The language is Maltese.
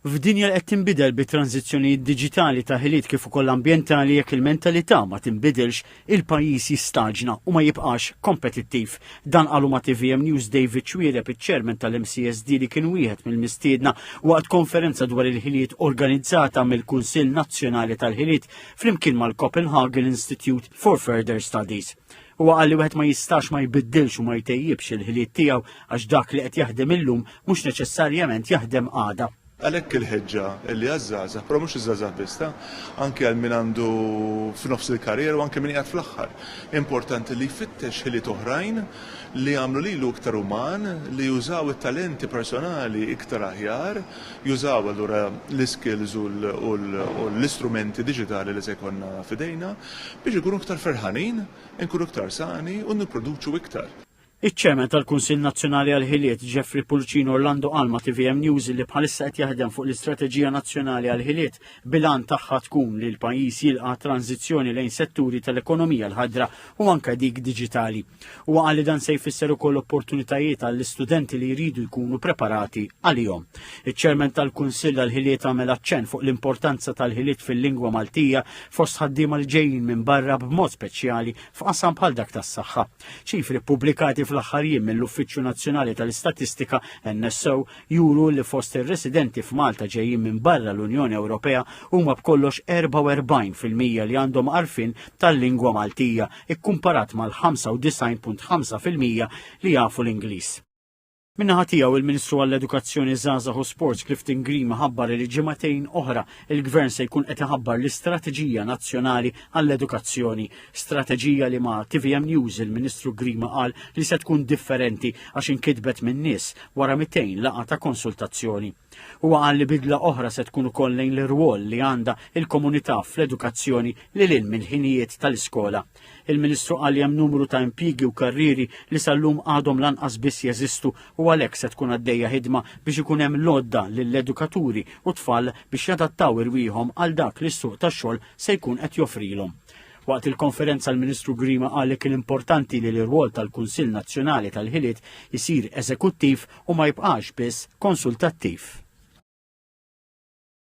F'dinja li qed tinbidel bi tranżizzjonijiet diġitali ta' ħiliet kif ukoll ambjentali jekk il-mentalità ma tinbidilx, il-pajjiż jistaġna u ma jibqax kompetittiv. Dan qalu ma' TVM News David Xuereb, iċ-Chairman tal-MCSD li kien wieħed mill-mistiedna waqt konferenza dwar il-ħiliet organizzata mill-Kunsill Nazzjonali tal-Ħiliet flimkien mal-Copenhagen Institute for Further Studies. Huwa qal li wieħed ma jistax ma jbiddilx u ma jtejjibx il-ħiliet tiegħu għax dak li qed jaħdem illum mhux neċessarjament jaħdem għada. Għalhekk il-ħeġġa li għaż-żgħażagħ, però mhux iż-żgħażagħ biss ta, anke għal min għandu f'nofs il-karriera u anke min qiegħed fl-aħħar. Importanti li jfittex ħiliet oħrajn li jagħmlu lilu iktar uman, li jużaw it-talenti personali iktar aħjar, jużaw allura l-iskills u l-istrumenti diġitali li se jkollna f'idejna. Biex inkunu iktar ferħanin, inkunu iktar sani u nipproduċu iktar. Iċ-Chairman tal-Kunsill Nazzjonali għall-Ħiliet, Jeffrey Pulcin Orlando qal ma' tvm News li bħalissa qed jaħdem fuq l-Istrateġija Nazzjonali għall-Ħiliet bil-għan tagħha tkun li l-pajjiż jilqa' tranżizzjoni lejn setturi tal-ekonomija l-ħadra u anke dik diġitali. Huwa qal li dan se jfisser ukoll opportunitajiet għall-istudenti li jridu jkunu preparati għalihom. Iċ-ċermen tal-Kunsill għall-ħiliet għamel aċċenn fuq l-importanza tal-ħiliet fil-lingwa Maltija fost ħaddiema li ġejjin minn barra b'mod speċjali f'qasam bħal dak tas-saħħa. Ċifri ppubblikati fl-aħħar jiem mill-Uffiċċju Nazzjonali tal-Istatistika NSO juru li fost ir-residenti f'Malta ġejjin minn barra l-Unjoni Ewropea huma b'kollox 44% li għandhom għarfien tal-lingwa Maltija ikkumparat mal-95.5 fil-mija li jafu l-Ingliż. Min-naħa tiegħu il-Ministru għall-Edukazzjoni Żgħażagħ u Sports Clifton Grima ħabbar li ġimagħtejn oħra il-Gvern se jkun qed iħabbar l-Istrateġija Nazzjonali għall-Edukazzjoni. Strateġija li ma' TVM News il-Ministru Grima qal li se tkun differenti għax inkitbet min-nies wara 200 laqgħa ta' konsultazzjoni. Huwa qal li bidla oħra se tkun ukoll lejn l-irwol li għandha il-komunità fl-edukazzjoni li lil mill-ħinijiet tal-iskola. Il-Ministru qal li hemm numru ta' impjiegi u karrieri li sal-lum għadhom lanqas biss jeżistu u għalhekk se tkun għaddejja ħidma biex ikun hemm l-għodda lill-edukaturi u tfal biex jadattaw irwieħhom għal dak li s-suq tax-xogħol se jkun qed joffrilhom. Waqt il-konferenza l-Ministru Grima qal li kien importanti li l-irwol tal-Kunsill Nazzjonali tal-Ħiliet isir eżekuttiv u ma jibqax biss konsultattiv.